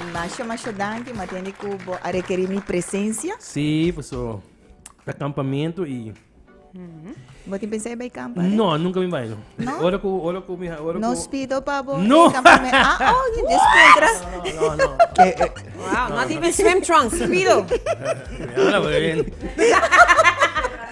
Mi masha masha danki ma tende ku bo a rekeri mi presensia. Si, paso ta kampamentu i Bo tin pensá e bai kampa? re? No, nunca mi bai no. No? Ora ku ora ku mi ora No ku spido pa bo No. e kampamentu. Ah, oh, di descontra. No, no. Ke, eh, Wow, not even swim trunks, Spido. Ala, wen.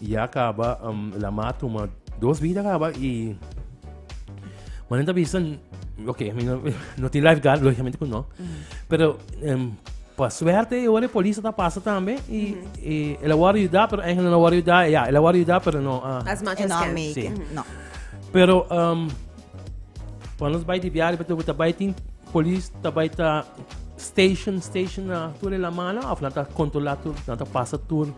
Ya kaba, um, la ma tuma dos bida kaba i... Manen ta bisa, ok, mi no, no tin lifeguard, logicamente ku no. Pero, um, pa suerte, yo wari polis ta pasa tambe i, i el a wari yuda, pero eigenlijk no a wari yuda, ya, el a wari yuda, pero no, ah, As much E as no can. make Sí. it. No. Pero um, pa nos bai di biari beto ta bai tin polis ta bai ta station station na tur la mala of na ta controla tur na ta pasa tur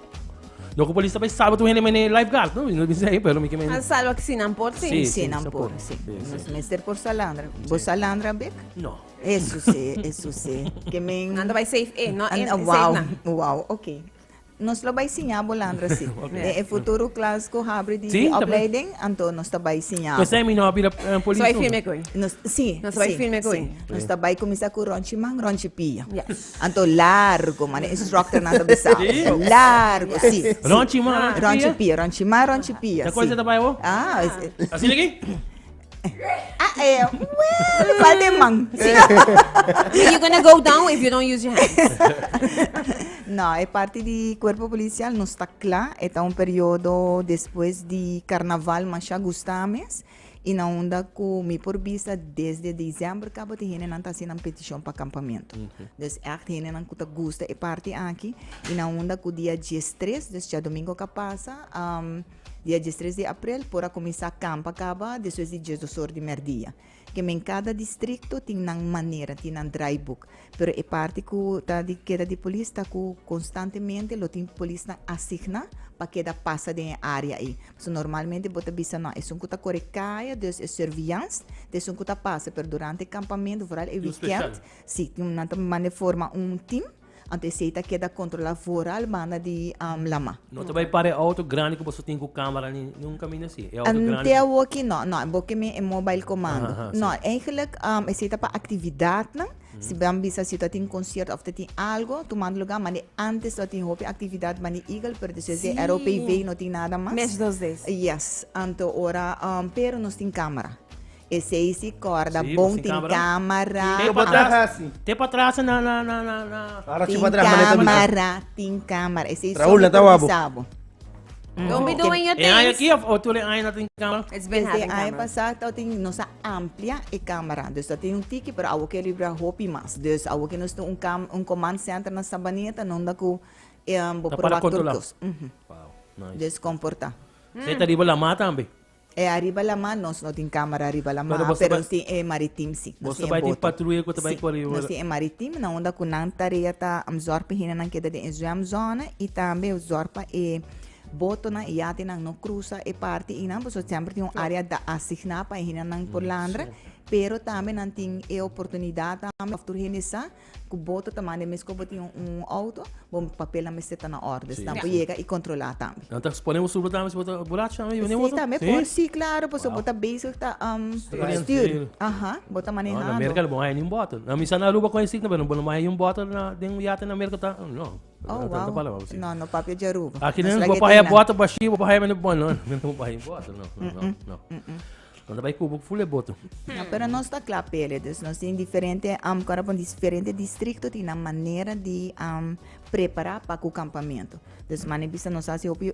Lo cu polis ta bay salva tu hende mene lifeguard, no? No bisa ahí, pero mi que me... Han salva que si nan por, sí. Sí, sí, nan por, sí. Nos mester por salandra. Bo salandra, Bek? No. Eso sí, eso sí. Que men... Nan ta bay safe, eh, no, eh, safe wow, na. Wow, ok. Nos lo bay siña bo landra, sí. okay. E futuro class cu habri di sí, opleiding, anto nos ta bay siña. Pues mi no habri uh, polis. So hay firme coi. Nos, sí, nos sí, bay firme coi. Sí. Nos ta bay comisa cu ronchi man, ronchi pia. Yes. Anto largo mane instructornan ta bisa. Largo, si. Ronchi ma. Ronchi pia, ronchi ma, ronchi pia. Ta kose ta bai bo? Ah. Asina ki? Ah, eh, well, falta e man. Si. You're gonna go down if you don't use your hands. no, e parti di cuerpo policial no sta cla. E ta un periodo despues di carnaval masha gusta mes. I na unda ku mi por bisa desde diciember kaba tin hendenan ta hasi nan peticion pa campamento. Dus echt hendenan ku ta gusta e parti aki i na unda ku dia diestres, dus diadomingo ka pasa, dia diestres di aprel por a kuminsá campa kaba despues di diesdos or di merdia. Ke men kada distrikto tin nan manera, tin nan draaiboek. Pero e parti ku ta di keda di polis ta ku konstantemente lo tin polisnan asigna pa keda pasa den e área ei. Pasobra normalmente bo ta bisa nau esun ku ta kore kaya, dus e surveillance ta esun ku ta pasa, pero durante e kampamentu, foral e wikènt, si, nan ta manda e forma un tim, anto esei ta keda kontrolá foral banda di Lama. No ta bai para e auto grandi ku boso tin ku camera ni un kaminda si. E auto grandi. Ante awo aki no, no, bo ke mi e mobile komando. Aha, aha, No, eigenlijk um, esei ta pa aktividatnan. Si bo a bisa si ta tin konsierto òf ta tin algo tumando lugá, ma de antes lo a tin hopi aktividat banda di Eagle, pero despues di e ROPV no tin nada mas. Mes dos des. Yes, anto ora, um, pero nos tin camera. Esei si corda bon tin camera. Te pa tras na na na na na. Tin camera tin camera esei so mi por bisa bo. Don be doing your things. E aña aki of tur e aña na tin camera? It's been having camera. Desde aña pasa ta tin nos a amplia e camera dus ta tin un tiki pero awo ke libra hopi mas dus awo ke nos tin un cam un command center na Sabaneta no unda ku bo proba tur cos. Wow nice. Dus comporta. Esei ta riba lamar tambe. E ariba laman nos no tin camera riba laman Pero boso pero nos tin e maritim si nos tin e boto patruya cu ta bay cori nos tin e maritim na unda cu nan tarea ta zorg pa hinanan keda den e zwem zona y tambe zorg pa e botonan e yatinan no crusa e parti y nan pasobra semper tin un area asigna pa e hinanan por landra pero tambe nan tin e oportunidad tambe of tur hende sa Ku bo ta tamane mes ku bo tin un outo, bo papelnan mester ta na orde. Si nan por yega i kontrolá tambe. Nan ta spone bo suber tambe si bo ta borracho tambe i wini outo? Si tambe por. Si, klaro. Pasobra bo ta bezig ta stür. Aha. Bo ta manehando. No, na Merka no bo haña niun bòtel. Nan bisa na Aruba con e stick tambe. Bo no bo haña niun bòtel den un yate na Merka ta, no. Oh, wow. No, no papia dje Aruba. Aki nan bo por haña bòtel bashí, bo por haña mende. No, no, no. Bo por haña bòtel, no. No, no, no. Nos ta bai kubu full e boto. Ya, pero nos ta kla pele. Dus nos tin diferente, kon a pone, diferente distrikto tin nan manera di prepará pa ku kampamentu. Dus mane e bisa nos hasi hopi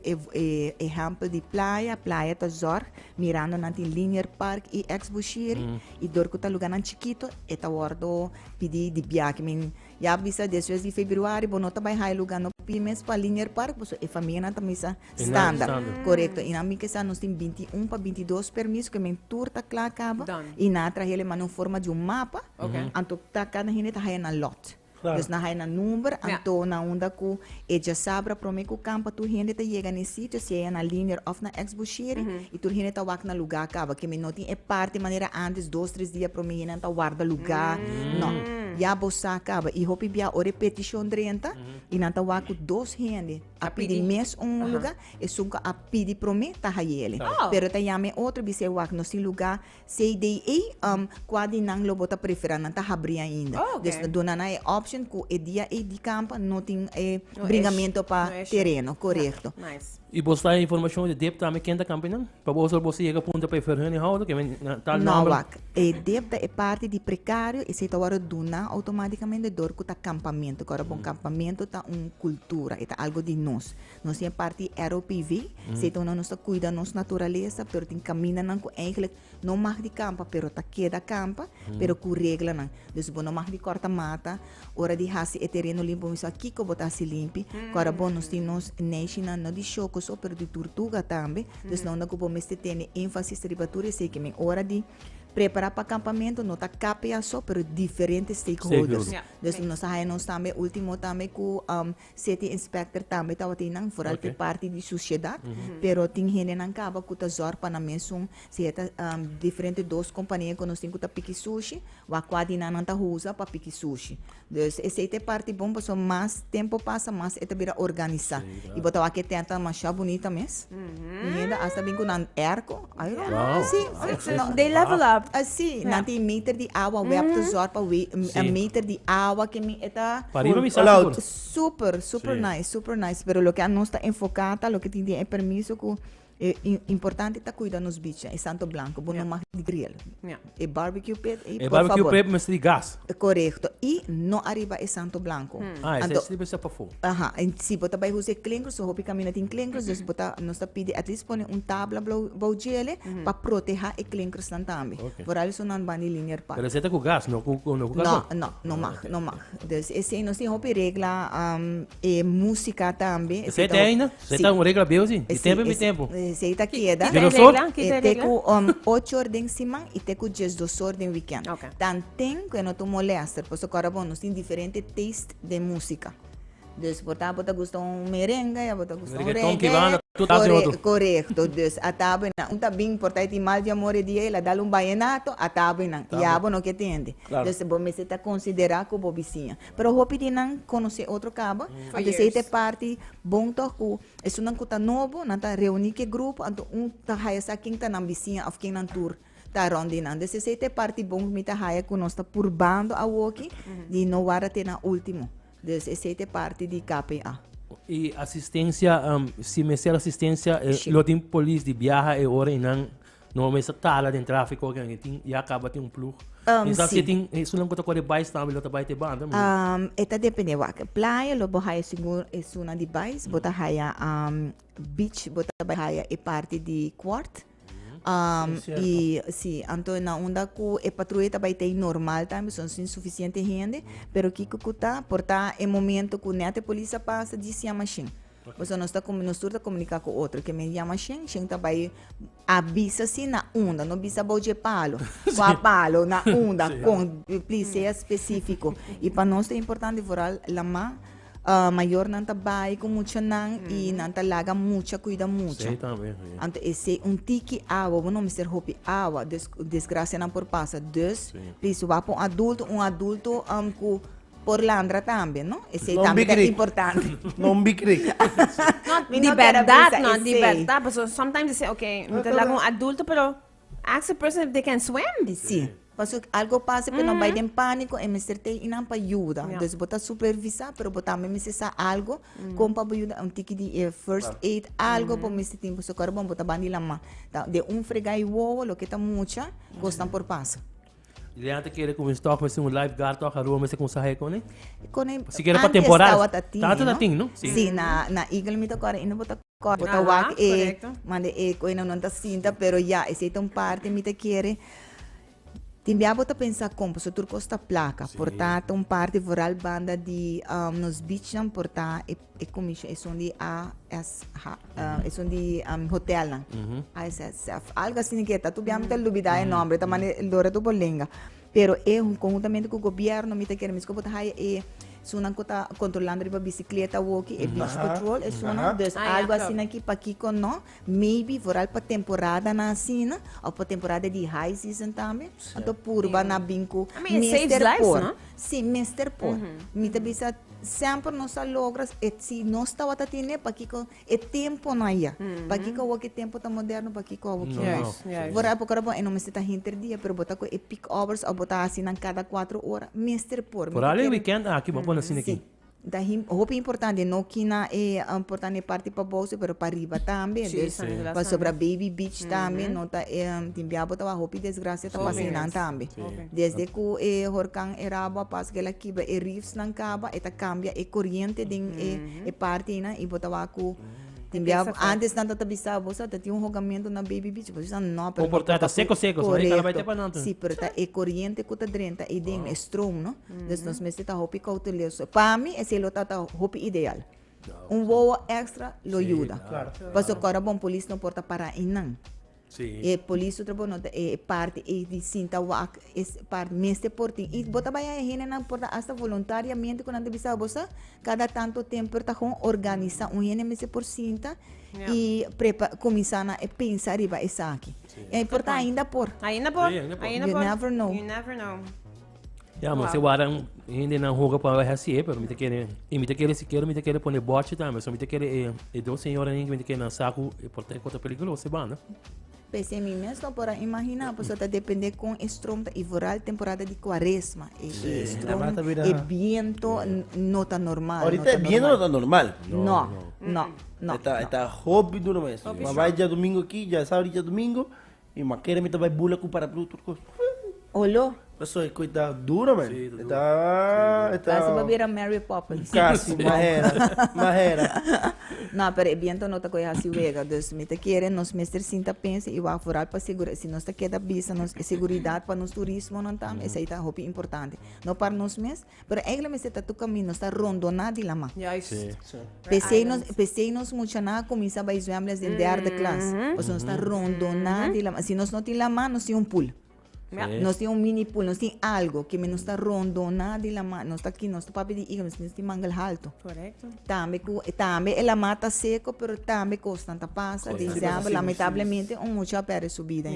ehèmpel di playa. Playa ta zòrg mirando nan tin Linier Park i Ex Bushiri i dor ku ta lugánan chikitu e ta wòrdu pidi di biaha. Ya bisa desues di febiruari bo no ta bai haya luga no pidi mes pa Linier Park paso e famianan ta misa standa korekto y nan mi ke sa nos tin binti i un pa binti i dos permiso ke men tur ta kla kaba y nan a traha el e manda un forma di un mapa anto ta kada hende ta haya nan lòt dus nan haya nan number anto nan unda ku E djasabra prome ku kampa tur hende ta yega na e sitio, siaja na Linier òf na Ex-Bushiri, i tur hende ta wak na lugá kaba. Kemi no tin e parti manera antes, dos, tres dia prome hende nan ta warda lugá. No. Ya bo sa kaba. I hopi bia ora e petishon drenta i nan ta wak ku dos hende a pidi mes un lugá, esun ku a pidi prome ta haiele. Pero e ta yama e otro, bisa e wak nos tin lugá. CDA am kua di nan lo bo ta prefera nan ta habri ainda. Oh, ok. Dus lo duna nan e option ku e dia ei di kampa no tin e No bringamento pa no issue. tereno, korekto. Na, nice. Y bo sta e informacion di dip tambe ken ta kampa ei nan? Pa bo osor bo si yega punta pa e verhuninghoudr ke men na tal No nomber. wak, e dip ta e parti di precario esei ta wòrdu duna automaticamente dor ku ta kampamento, ku ora bon kampamento ta un kultura, e ta algo di nos. Nos tin e parti ROPV, seton nos ta cuida nos naturaleza, pero tin caminanan cu eigenlijk no mag di campa, pero ta keda campa, pero cu reglanan. Dus bo no mag di corta mata, ora di haci e tereno limpi bo bisa kico bo ta haci limpi, cu ora bon nos tin nos neshinan no di shoco so, pero di turtuga tambe, dus no unda cu bo mester tene enfasis riba tur esey ke men ora di prepara pa campamento no ta KPA so, pero diferente stakeholders. Stakeholders. Dus nos ta haya nos tambe ultimo tambe cu. City inspector tambe tabatin nan vooral pe parti di suciedad pero tin hendenan caba cu ta zorg pa nan mesun si e ta diferente dos compania cu nos tin cu ta piki sushi wak cua di nan nan ta usa pa piki sushi dus esey ta e parti bon pasobra mas tempo pasa mas e ta bira organisa y bo ta wak e tenta masha bunita mes y hende asta bin cu nan erco Dei level up. Así, nan tin meter di awa wè op ta zòrg pa wè e meter di awa ke mi e ta. Pa riba mi sa sigur. Super, super nice, super nice. Pero loke anos ta enfoká ta loke tin den e permiso ku e importante ta kuida nos bichi, e santo blanko. Bo no mag di griel. E barbecue pit i por favor. E barbecue pit mester di gas. Correcto. I no arriba e santo blanco. Hmm. Ah, ese Anto, es pa fu. Aha, en si bota bai huse klinkers, so hopi camina tin klinkers, dus bota nos ta pidi at least pone un tabla blau bau jele mm -hmm. pa proteha e klinkers nan tambi. Okay. Por ali so nan ban di linear pa. Pero zeta ku gas, no ku no ku No, no, no mag, okay. no mag. Dus ese nos tin hopi regla um, e música tambi. Zeta ainda? So e ta un regla beu si, di tempu en di tempu. E esei ta keda. Kita e regla? Kita e regla? Te ku ocho or den siman i te ku diesdos or den wikènt. Ok. Dan tin ku e no ta un molèster, pasobra ku ora bo nos tin diferente taste den músika. Dus por ta bo ta gusta un merenge i abo ta gusta un reggae. Reggaeton, kibanda, tur tabla den otro. Korekto. Dus a tabanan, un ta bin por ta e tin mal di amor e dia i el a dal un bayenato, a tabanan. Tambe. I abo no ke tende. Klaro. Dus bo mester ta konsiderá ku bo bisiña. Pero hopi di nan conoce otro caba, anto esey ta e parti bon toch cu esunnan cu ta nobo, nan ta reuni cu e grupo, anto un ta haya sa ken ta nan bisiña of ken nan tur ta rond di nan. Des esey ta e parti bon cu mi ta haya cu nos ta purbando awoki di no warda te na ultimo. Des esey ta e parti di KPA. Y asistencia, si mester asistencia, lo tin polis di biaha e ora y nan. No a mester tala den trafiko oke nan e tin ya kaba tin un plug. Um, Kisa si si. e tin esunnan ku ta kore bai stampi lo ta bai te banda mi. Um, e ta depende wak. Playa lo bo haya sigur esunnan di bais, bo ta haya um, beach, bo ta bai haya e parti di kwart. Um, Es cierto. i si, anto na unda ku e patruya ta bai tei normal tambe, son sin sufisiente hende, pero kiko ku ta, por ta e momento ku nèt e polis a pasa di sia mashin. Pasobra nos ta nos tur ta komuniká ku otro. Ke men yama Sheng, Sheng ta bai a bisa si na unda, no bisa abou dje palu, ku a palu na unda kon. Plis sea spesífiko. I pa nos ta importante foral lamá mayornan ta bai ku muchanan i nan ta laga mucha kuida mucha. Anto esei un tiki awa, bo no mester hopi awa. Des desgrasianan por pasa. Dus plis wak pa un adulto, un adulto ku Por landra tambe, no? Esei no tambe ta importante. no bikrik. no, di berdad, no, di berdad. Paso sometimes di se, ok, mi ta laga un adulto, pero ask a person if they can swim. E si. Paso algo pasa, pero mm -hmm. no bai den panico, e mester te inan pa yuda. Yeah. Dus bota supervisa, pero bota tambe mester sa algo, mm -hmm. kom pa bo yuda, un tiki di uh, first aid, algo mm -hmm. pa mester timpo. So, karo bon, bota bandi lama. De un fregai wowo, lo que ta mucha, mm -hmm. kostan por pasa. Liliana ta kere ku mi stock mester un life guard tok Aruba mester kumsa haya kone? Kone Si kere pa antes temporal. tabata tin, Tanto you na know. tin, no? Si. Si, na, na Eagle mi ta kòrda i no bo ta kòrda, bo ta Aha, wak e, korekto. manda e koe nan nan ta sinta, pero ya, esei ta un parti mi ta kere, tin bia bo ta pensa kon, paso tur kos ta plaka, por ta ta un parti vooral banda di nos beachnan por ta e E commission esun di AS ha, uh, esun di um, hotel nan. Mm-hmm. ISSF. Algo así que está. Tu bien me olvidar el nombre, está mane el dora tu por lenga. Pero eh, conjuntamente con el gobierno, mi te quiere mis copos hay eh sunan que está controlando riba bicicleta, walkie, eh, beach patrol, eh sunan. Dus algo así aquí pa aquí con no. Maybe vooral pa temporadanan asina of pa temporada di high season tambe anto purba na bin ku mester por si mester por mi ta bisa semper nos a logra si nos tabata tine pakiko e temponan a ya pakiko awo e tempo ta moderno pakiko awo ke mas vooral por ora bo e no mester ta henter dia pero bo ta ku e peak hours of bo ta hasi nan kada cuatro ora mester por. Vooral e weekend aki bo a pone asina aki. Ta hopi importante no kina e portan e parti paboso pero pariba tambe pasobra baby beach tambe no ta e tin bia bo tabatin hopi desgracia ta pasa einan tambe desde cu e horcan erabo a pasa cu el a kiba e reefs nan caba e ta cambia e coriente den e parti einan y bo ta wak cu tin bia antes nan tata bisa bo sa tatin un hogamento na baby beach y bo bisa no pero ta seco seco corecto si pero ta e coriente cu ta drenta einan e stroom no Dus nos mester ta hopi kouteloso. Pa mi esei lo ta ta hopi ideal. Un wowo extra lo yuda. Pasobra ku ora bon polis no por ta para einan. E polis su trabaho no ta e parti ei di sinta wak. E parti mester por tin. I bo ta bai a e hendenan por ta hasta voluntariamente ku nan ta bisa bo sa kada tanto tempu por ta kon organisa. Un hende mester por sinta i prepa kuminsá nan e pensa riba esaki. I por ta ainda por. Ainda por. You never know. Ja, mas e wara hende nan hoga pa weh hasié, pero mi te kere, y mi te kere sikier, mi te kere pone bòchi tambe, so mi te kere e, e dos señora nin, mi te kere nan saku, e por trek kota peligroso e banda. Pese mi mes no por a imagina, pues ta depende con e stroom ta y vooral temporada di cuaresma. E, sí, e stroom, ta bira... e viento no ta normal. Ahorita e viento no ta normal. No, no, no. no. Eta, eta hopi duro mes. Hopi Wabai dia domingo aquí, ya sabri dia domingo. Mi mama kere mi ta bai bula ku paraplu tur kos. Olo. Paso e koit ta duro men. Sí, ta duro. E ta. Kasi pa bira Mary Poppins. Kasi, mas hera, mas hera. No, pero e biento no ta koe hasi wega. Dus mi ta kere nos mester sinta pensa i wak foral pa segura si nos ta keda bisa nos e seguridat pa nos turismonan tambe esei ta hopi importante. No par nos mes, Pero egle mester ta tuka mi nos ta rondoná di laman. P'esei nos p'esei nos muchanan a kuminsá bai zwèmles den derde klas. Pasobra nos ta rondoná di laman. Si nos no tin laman, nos tin un pul. Nos tin un mini pul, nos tin algu ke men nos ta rondoná di laman. Nos ta nos ta papia di iga, nos tin mangal haltu. Tambe ku e tambe e laman ta seku pero tambe kosnan ta pasa. Di isèmpel, lamentablemente un mucha a pèrdè su bida.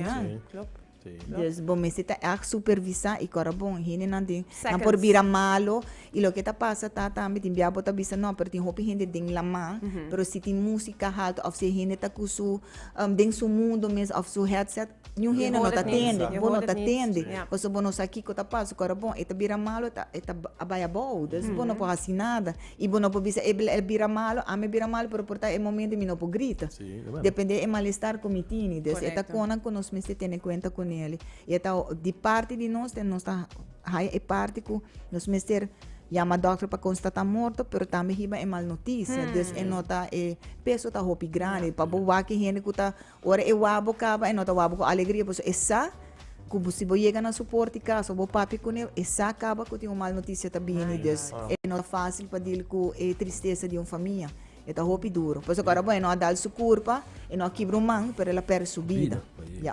Des bo mester ta erg supervisa y kora bon hendenan den nan por bira malo y loke ta pasa ta tambe tin bia bo ta bisa no pero tin hopi hende den laman pero si tin musica halta of si e hende ta cu su den su mundo mes of su headset niun hende no ta tende bo no ta tende pasobra bo no sa kico ta pasa kora bon e ta bira malo e ta a bai abao des bo no por haci nada. Y bo no por bisa ey el bira malo, ami bira malo, pero por ta e momento mi no por grita. Sí, e bueno. Depende e malestar cu mi tini. Des e ta Correcto. conan cu nos mester tene cuenta cu Nelly. Y e ta ho- di parti di nos, te- nos ta haya e parti cu nos mester yama dokter pa constata morto, pero tambe hiba e mal noticia. Dus e no ta, e peso ta hopi grandi. Pa bo wak e hende cu ta Ora e wabo kaba e no ta wabo ku alegria pasobra e sa ku bo si bo yega na su por di kas o bo papia kune e sa kaba ku tin un mal notisia ta bini dus e no ta fasil pa dil ku e tristesa di un famia e ta hopi duru pasobra ku ora bo e no a dal su kurpa e no a kibra un man pero el a pèrdè su bida ya.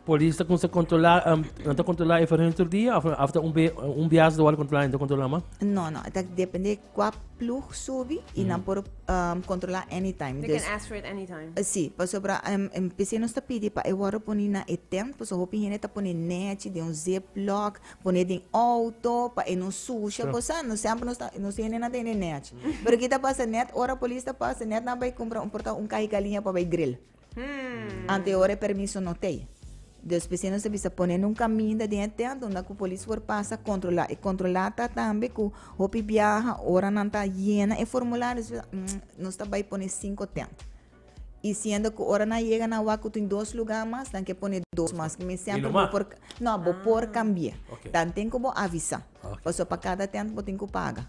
Polis ta kunsa kontrolá um, nan ta kontrolá e verhun tur dia of of ta un be un bias do al kontrolá en ta kontrolá ma. No, no, dat depende qua ploeg subi y nan por um, controla anytime. They Dus, can ask for it anytime. eh, sí, pasobra um, um, PC nos ta pidi pa e wordo poni na e tent, pues hopi hende ta pone nechi den un ziplock, pone den auto, pa e no sucia, Sure. cosa, no sempre nos ta, nos hende na ta hende nechi. Pero ki ta pasa, net ora polis ta pasa, net nan bay compra, un porta un cahi galiña pa bay grill. Ante ora e permiso no tei. Dus p'esei nos ta bisa pone nun kaminda den e tent unda ku polis por pasa kontrolá. E kontrolá ta tambe ku hopi biaha ora nan ta yena e formulario nos bisa mm nos ta bai pone sinku tent. I siendo ku ora nan a yega nan wak ku tin dos lugá mas nan ke pone dos mas. Mi sempre bo por no bo por kambie. Tanten ku bo avisá. Pasobra pa kada tent bo tin ku paga.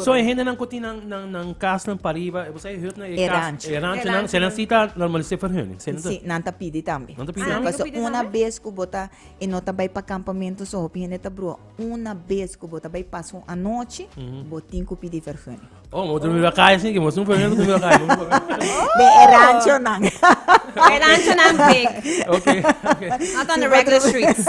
So e hendenan ku tin nan kasnan pariba, bo sa e hütnan, e ranchonan, se nan si ta normalisé ferhüning? Si, nan ta pidi tambe. Nan ta pidi tambe? Pasobra una bes ku bo ta, e no ta bai pa kampamentu so, hopi hende ta bruha. Una bes ku bo ta bai pasa un anochi, bo tin ku pidi ferhüning. Oh, bo ta durmi riba kaya sin ke bo hasi un ferhüning pa durmi riba kaya? Den e ranchonan. E ranchonan big. Ok, ok. Not on the regular streets.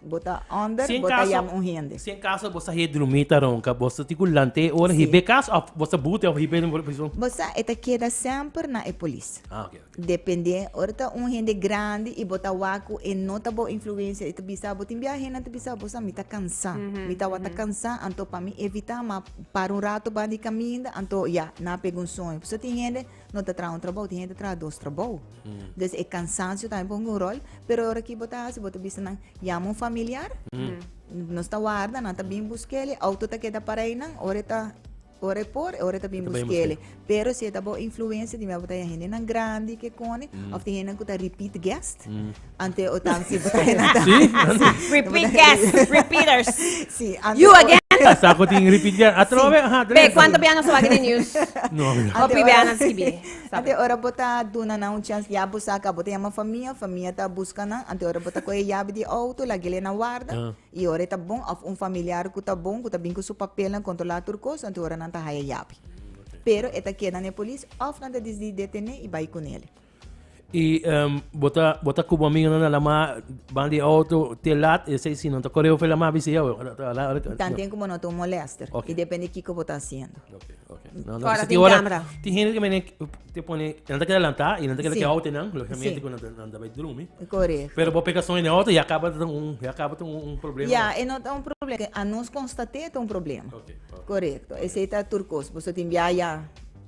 Bo ta hòmber, Si en bo ta kaso- yama un hende. Si en kaso bo sa hei drumí ta ronka, bo sa tin ku lanta e ora hib'é kas òf bo sa bute òf hib'é den prison? Bo sa e ta keda semper na e polis. Ah, ok, ok. Dependé, ora ta un hende grandi i bo ta wak ku e no ta bo influensia, e ta bisa bo. Tin bia hendenan ta bisa bo sa mi ta kansá, mi tabata kansá, anto pa mi evitá, ma para un rato banda di kaminda, anto ya nan pega un soño. Por eso tin hende no ta traha un trabou, tin hende ta traha dos trabou. Des e kansansio tambe por hunga un ròl, pero ora ki bo ta hasi, bo ta bisa nan yama un familiar, nos ta warda, nan ta bin busk'el, e outo ta keda para ei nan, ora e ta, ora e por, e ora e ta bin busk'el. Pero si e ta baw influensia di mia bo ta haña hendenan grandi, ke kòne, òf tin hendenan ku ta repeat guest, Ante o tam si bo ta henda tam. Sí. Repeat guest, repeaters. Sí, ante You o- again? Sa cu tin repeat guest. A trova be, aha, Be, Dresden. cuanto bianan sa wak di news? No, no. Ante Hopi ora- bianan skibí. Sa Ante p'e. ora bo ta duna nan un chance, ya bo sa ka, bo ta yama famia, famia ta buska nan. Ante ora bo ta coge yabi di auto, lag'e le na warda. Ah. Y ora e ta bon, of un familiar cu ta bon, cu ta bin cu su papelnan, controla tur cos, ante ora nan ta haya yabi. Pero e ta keda n'e polis, of nan ta disdi detené y bay cu nele. Y um, bota, bota cubo amigo no la ma van di auto te lat e sei si no ta correo fe la ma bisi yo. Tanten como no tu molester. Okay. Y depende kiko bota haciendo. Okay, okay. No, no, Fora tin camera. Tin gente que me te pone, no te que adelanta y no te que auto nan, lógicamente que no te no te vai drumi. Correcto. Pero bo pecação en auto ya acaba de un ya acaba de un problema. Ya, e no ta un problema que a nos constaté ta un problema. Okay. Correcto. Ese ta turcos, bo so tin via ya.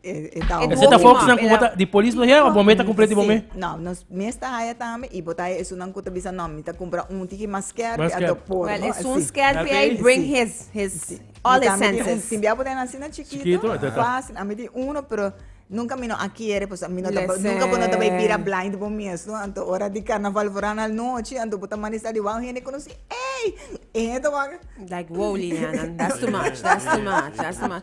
E ta Ese ta hoax nan ku bota di polis lo haya o bomé ta completo di bomé? No, nos mi esta haya tambe y bota haya esun nan ku ta bisa no mi ta compra un tiki mas skerpi a ta por. Well, esun skerpi ey bring his his all his senses. Tin bia bo den asina chikito, facil. Ami tin uno pero nunca mi no a kere pues mi no ta nunca bo no ta bay bira blind bo mes no anto ora di carnaval for a na anochi anto bo ta manifesta di wao hende conoci ey e hende ta wak. Like wow Liliana, that's too much, that's too much, that's too much.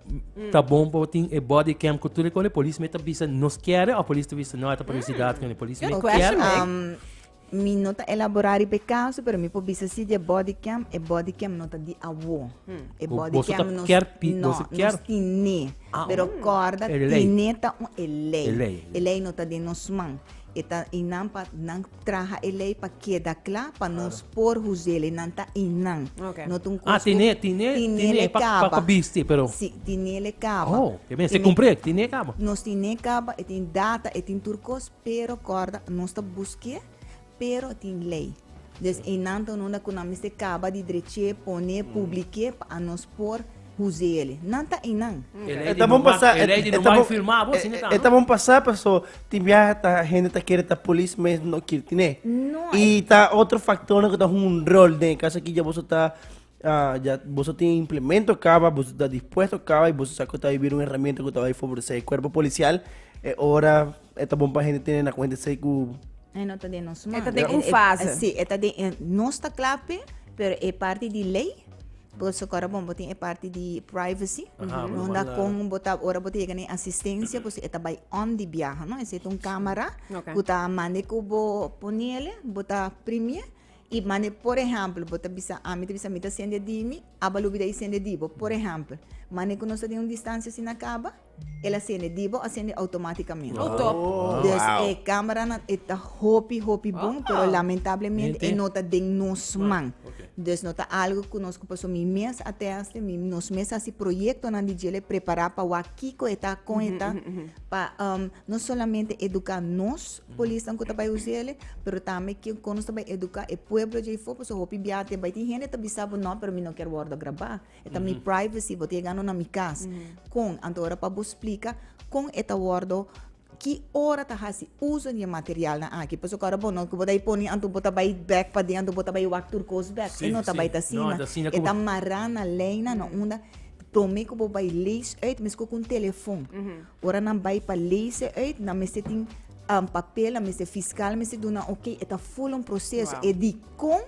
ta bon pa tin e body cam ku tur e kos e polis me ta bisa nos kere òf polis ta bisa no ata publisidat kende polis me kere mi no ta elabora riba e kaso pero mi por bisa si di e body cam e body cam no ta di awo e body cam nos no nos tine pero korda tine ta un e lei e lei no ta den nos man E ta inan pa nan traha e lei pa keda kla pa nos por huze'l. E nan ta inan. Okay. No ta un Ah, kos ku- tiné, tiné, tiné tiné le pa- pa- kaba. pa bisti, pero- Si, tiné le kaba. Oh, ke mester Tiné- kumpré, tiné kaba. Nos tiné kaba, e tin data, e tin tur kos, pero kòrda, nos ta busk'é, pero tin lei. Des e nan ta un hunda ku nan mester kaba di drech'é, pon'é, publik'é pa anos por Huze yeli, nan ta einan. E ta bon pasá, e ta bon pasá paso tin biaha ta hende ta kere ta polis mes no kir tiné. I ta otro faktornan ku ta hunga rol den e kas aki dja boso ta dja boso tin e implemento kaba, boso ta dispuesto kaba i boso sa ku ta bai bira un herramienta ku ta bai favoresé e kuerpo polisial e ora E ta bon pa hende tene na kuenta esei ku E no ta den nos man. E ta den un fase. Si, e ta den, e, nos ta kla pe, pero e parti di lei, because kora bon bo tin e parti di privacy, no da kon bo ta, ora bo ta yega na e asistencia, pues e ta bai on di biaha, no? Esei ta un camera ku ta mande ku bo poniele, bo ta primie i mande, por ehempel, bo ta bisa, ami ta bisa mi ta sende di mi, aba lubi dei sende di bo, por ehempel. Mane ku nos ta den un distancia asina kaba. El a sende di bo a sende automáticamente. Oh top. Oh, dus wow. e cameranan e ta hopi hopi bon, oh. pero lamentablemente e no ta den nos man. Okay. Dus no ta algo ku nos ku paso mi mes a teste, mi nos mes hasi proyektonan di djele prepara pa wa kiko e ta kon e ta pa um, no solamente eduka nos polisnan ku ta bai usele, pero tambe ki kon nos ta bai eduka e pueblo djei fo, paso hopi biaha te bai tin hende ta bisa bo no, pero mi no ker wordo graba. E ta mi privacy, bo ta yega anto na mi cas. Con? Anto ora pa bo splica con e ta wordo, ki ora ta haci uzo di e materialnan aki. Pasobra ora bo no cu bo ta poni anto bo ta bay bek paden, anto bo ta bay wak tur cos bek. E no ta bay ta asina. E ta mara na leynan, na unda prome cu bo bay lees uit, mesco cu un telefon. Ora nan bay pa lees e uit, nan mester tin papel, nan mester fiscal mester duna oke. E ta full un proceso. E di. Con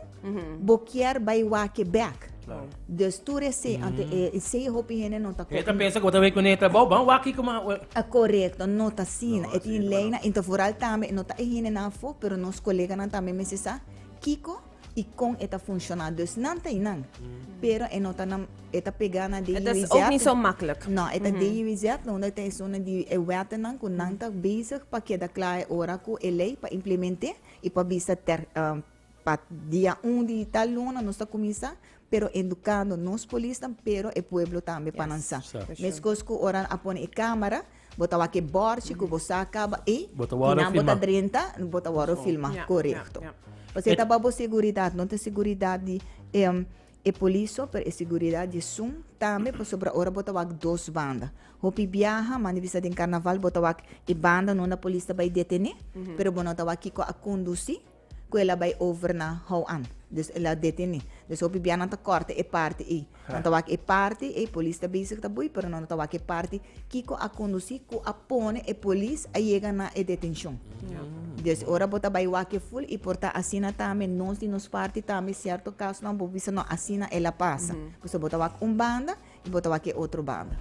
bo kier bay wake bek. Dus tur ese, ante ese hopi hende no ta koki. E ta pensa ku bo ta wake ku neta bo, ban waki kuma. Korekto, no ta asina. E tin lei nan. Enton foral tambe no ta e hendenan afo, pero nos koleganan tambe mester sa kiko i kon e ta funshoná. Dus nan ta einan, pero e no ta nan, e ta pegá na di UWZ. E ta ook ni so maklik. No, e ta di UWZ, unda e ta esun di e wettenan ku nan ta bezig pa keda kla e ora ku e lei pa implement'é. I pa bisa ter pa dia un di tal luna nos ta kuminsá, pero endukando nos polisnan, pero e pueblo tambe pa nan sa. Meskos ku ora a pone e kámara, bo ta wak e bòrchi ku bo sa kaba i kinan bo ta drenta bo ta wòrdu filmá. Korekto. Pasobra ta pa bo seguridat, no ta seguridat di e. E polis so per e siguridad di esun, tambe pasobra ora bo ta wak dos banda. Hopi biaha, manda bisa den Carnaval, bo ta wak e banda nunda polis ta bai detene, pero bo no ta wak kiko a conduci cu el a bai over na hou an. Dus el a detene. Dus hopi biaha nan ta corta e parti ei. Nan ta wak e parti ei, polis ta bezig ta boey, pero nan no ta wak e parti. Kiko a conduci cu a pone e polis a yega na e detencion. Des ora bo ta bai wak full y por ta asina tambe nos di nos parti tambe cierto casonan bo bisa no asina el a pasa. Pasobra bo ta wak un banda y bo ta wak e otro banda.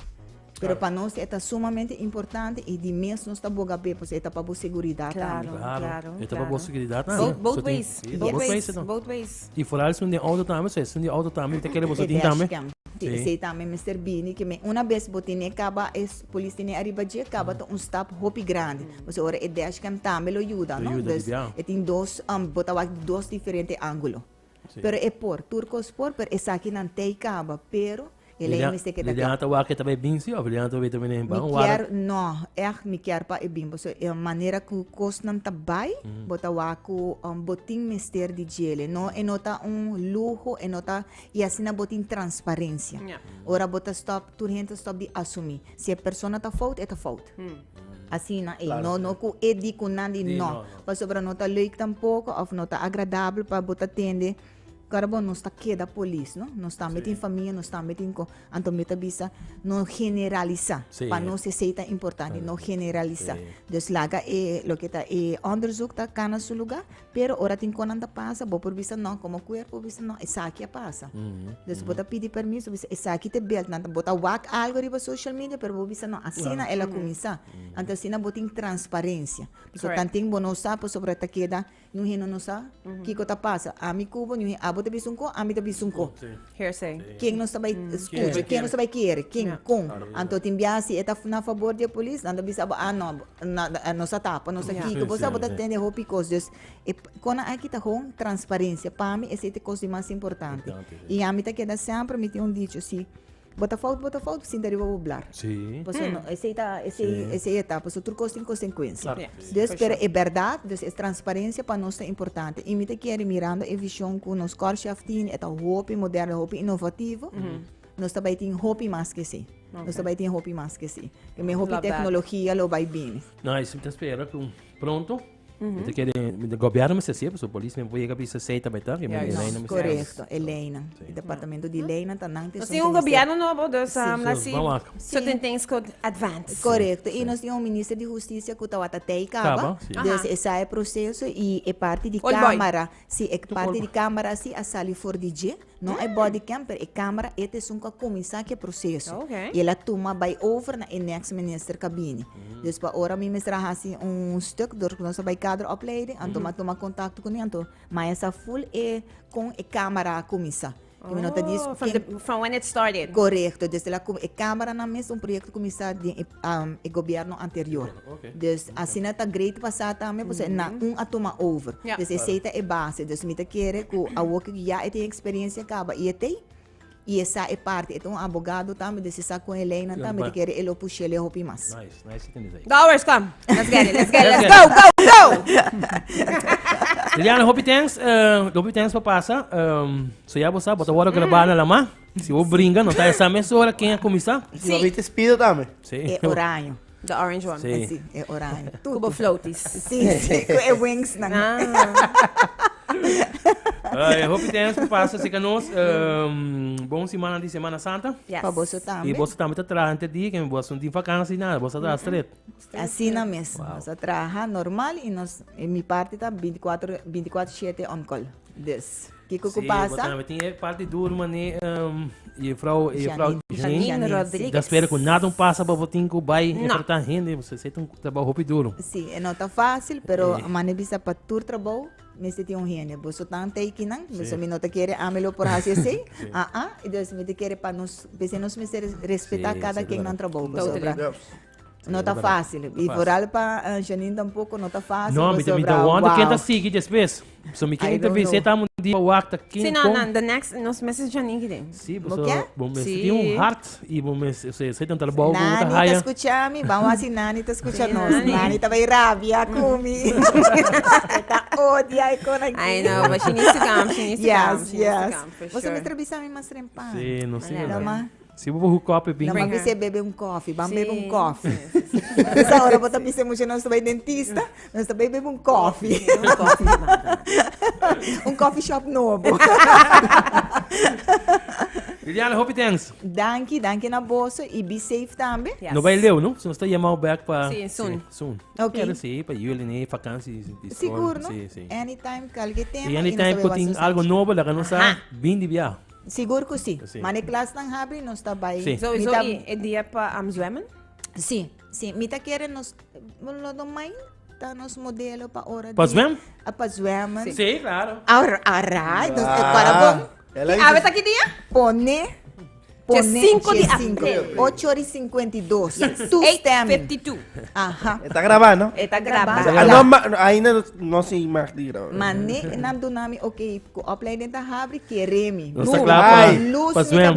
Pero pa nos e ta sumamente importante y di mes nos ta boga be pasobra e ta pa bo seguridad tambe. Claro, claro, claro. Bo both ways, both ways, both ways. Y foral esun den auto tambe, so esun di auto tambe y ta kere boso tin tambe. Di esey tambe mester bini ke me una bes bo tene kaba e polis tene ariba dje kaba ta un stap hopi grandi. Pasobra ora e dashcam tambe lo yuda no, dus e tin dos bo ta wak di dos diferente angulo. Pero e por, tur kos por pero esakinan tey kaba pero. Elei mi se keda Liliana ta wak e ta bay binsi of Liliana ta wak e ta bini mi kier no echt mi kier pa e bimbo so e manera ku kosnan ta bay mm. bo ta wak ku um, botin mester di jele no e no ta un lujo e no ta y asina botin transparencia yeah. ora bo ta stop tur hente stop di asumi si e persona ta fout e ta fout mm. Asina, e, claro, no, no ku e di ku nan di, no. no. Pasobra no ta leuk tampoco of no ta agradable pa bo ta tende Kara bo nos ta keda polis no nos tambe tin famia nos tambe tin ko anto mi ta bisa no generalisa sí. pa nos esei ta importante no generalisa sí. dus laga e lo ke ta e onderzoek ta kana su lugar pero ora tin konan ta pasa bo por bisa no como cuerpo bisa no esaki a pasa mm -hmm. dus bo ta pidi permiso bisa esaki te belt nan bo ta wak algo riba social media pero bo bisa no asina yeah. ela mm -hmm. kumisa anto asina bo tin transparencia so tantin bo no sa pasobra ta keda Ñu hende no sa kiko ta pasa. Ami kubo ñu hende, abo ta bisa un kon, ami ta bisa un kon. Hearsay. Ken nos ta bai skucha, ken nos ta bai kere, ken, kon. Anto tin bia si e ta na fabor di e polis, nan ta bisa abo, a no, nos a tapa, nos a kiko, por eso abo ta tende hopi kos. Dus, e kona aki ta hon transparencia. Pa mi esei ta e kos di mas importante. I ami ta keda semper, mi tin un dicho si. Bo ta fout, bo ta fout, sinta riba bo blar. Sí. Paso no, esei ta, esei, esei e ta, paso tur cos tin consecuencia. Claro. Yeah. Dus, Special. pero e berdad, dus e transparencia pa nos ta importante. Y mi ta kere, mirando e vision cu nos Corchef tin, e ta hopi moderno, hopi innovativo, nos ta bay tin hopi mas ke esei. Okay. Nos ta bay tin hopi mas ke esei. Keme hopi Love that. tecnologia lo bay bini. Nice, mi ta spera cu pronto. Mi ta kere, mi gobierno mester si, paso polis mi puede yega bisa sei también ta, que mi Yes. Elena mi sa. Correcto, el ley nan. Sí. El departamento di ley nan ta nan Nos tin un gobierno nobo, dus Sí. um, la So, si vamos acá. certain Sí. things could advance. Correcto, y Sí. nos tin un minister di justicia cu tawata tei caba, Caba, sí. Aha. dus esa e proceso y e parti di Old boy. camara, si e parti Old di boy. camara si a sali for di dje, No e body cam pero e camera e ta esun cu a cuminsa cu e proceso y el a tuma bay over na e next minister ca bini dus pa ora mi mester a haci un stuk door cu nos a bay kader opleiding anto mi a tuma contacto cu mi anto maya sa full e con e camera a cuminsa y mi no ta dies from when it started corecto e cameranan mes un proyecto cuminsa den e gobierno anterior. Dus asina ta great pa sa tambe pasobra e nan un a tuma over. Dus esei ta e base. Dus mi ta kere ku awor ku ya e tin eksperensia kaba i e tei i e sa e parti. E ta un abogado tambe dus e sa kon e leinan tambe mi ta kere e lo push'é lei hopi mas. Dowers kom! Let's get it, let's get it, let's go, go, go! Liliana hopi thanks hopi thanks pa pasa. So ya bo sa bo ta wòrdu grabá na Lamá. Si bo bringa no ta esei mesora ken a kuminsá. Si bo a biti spido tambe. E oraño. The orange one. Sí. Sí, e oranje. Ku Tutu. bo floaties. Sí, sí, ku e wingsnan. Ah. Ai, hopi thanks ku pasa asika nos. Ehm, bon simana di Semana Santa. Yes. Pa boso I tambe. boso tambe ta traha henter di, ken boso no tin vakansi nada, boso ta traha stret. Asina mes. Wow. Nos a traha normal i nos, e mi parti ta binti kuater, binti kuater shete on call. Dus. Kiko ku pasa? Si, bo ta nambe tin e parti duru mané Jufrou Janine Rodriguez. Ta spera ku nada un pasa pa bo tin ku bai enfrentá hende, bo seta un trabou hopi duru. Si, e no ta fásil, pero mane bisa pa tur trabou mester tin un hende. Bo so tan teikinan, so mi no ta kere ami lo por hasi esei, aa, i dus mi ta kere pa nos, p'esei nos mester respetá kada ken nan trabou ku sobra. No ta fácil. Y vooral pa uh, Janine tampoco no ta fácil. No, mi mi da wonder ken ta sigui después. So mi ken interview se ta mundi pa wakta ken Sí, no, no, the next nos meses Janine gide. Sí, bo so bo mes ti un hart y bo mes se se tantal bo bo ta haya. Nani ta escucha mi, ba wasi nani ta escucha nos. Nani ta bay rabia kumi. Ta odia e kona. I know, but she needs to come, she needs to come. Yes, yes. Bo so mi trabisa mi mas rempa. Sí, no sí. Lama. Si bo por hook up e bing. Nan bisa e bebe un kofi, ban bebe un kofi. Bisa ora bo ta bisa e mucha nos ta bai dentista, nos ta bai bebe un kofi. un kofi shop nobo. Liliana hopi thanks. Danki, danki na boso i be safe tambe. Yes. No bai leu no, so nos ta yamao back pa Si, soon. Si, soon. Okay. Pero si pa juli ni vakansi di di school. Sigur no? Si, si. Anytime kalke tema. I anytime ku tin algo nobo la ka nos a Aha. bindi bia. Sigur cu si. Mane klasnan habri nos ta bay. So is hoy e dia pa am zwemmen? Si, si. Mi ta kere nos, lo do mind ta nos modelo pa ora di. Pa zwem? Pa zwemmen. Si, claro. Alright, nos e para bon. Ki awe ta ki dia? Pone, pone. Che cinco di april. Ocho ora y cincuenta y dos. Yes. Tu stem. Eight fifty two. Aha. E ta graba, no? E ta graba. Ainda nos sin mag di graba. Mane nan duna mi okay. Ku opleiding ta habri kere mi. Nos ta kla pa pa zwem.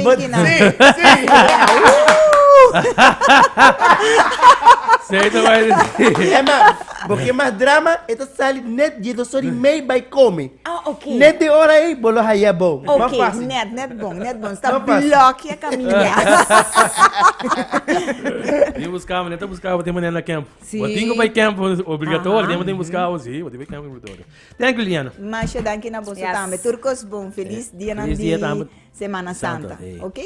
Ema, bo ke mas drama e ta sali net die dos or i mei bai kome. Net den ora ei bo lo haya bo. Mas fasi. Net, net bon, net bon. Sta blokia kaminda. Di buska bo, ne ta buska bo tin manera na kemp. Bo tin ku bai kemp obligatorio, tin bo tin buska bo si, bo tin bai kemp obligatorio. Thank you Liliana. Masha danki na boso tambe. Tur kos bon. Felis dianan di Semana Santa. Oke.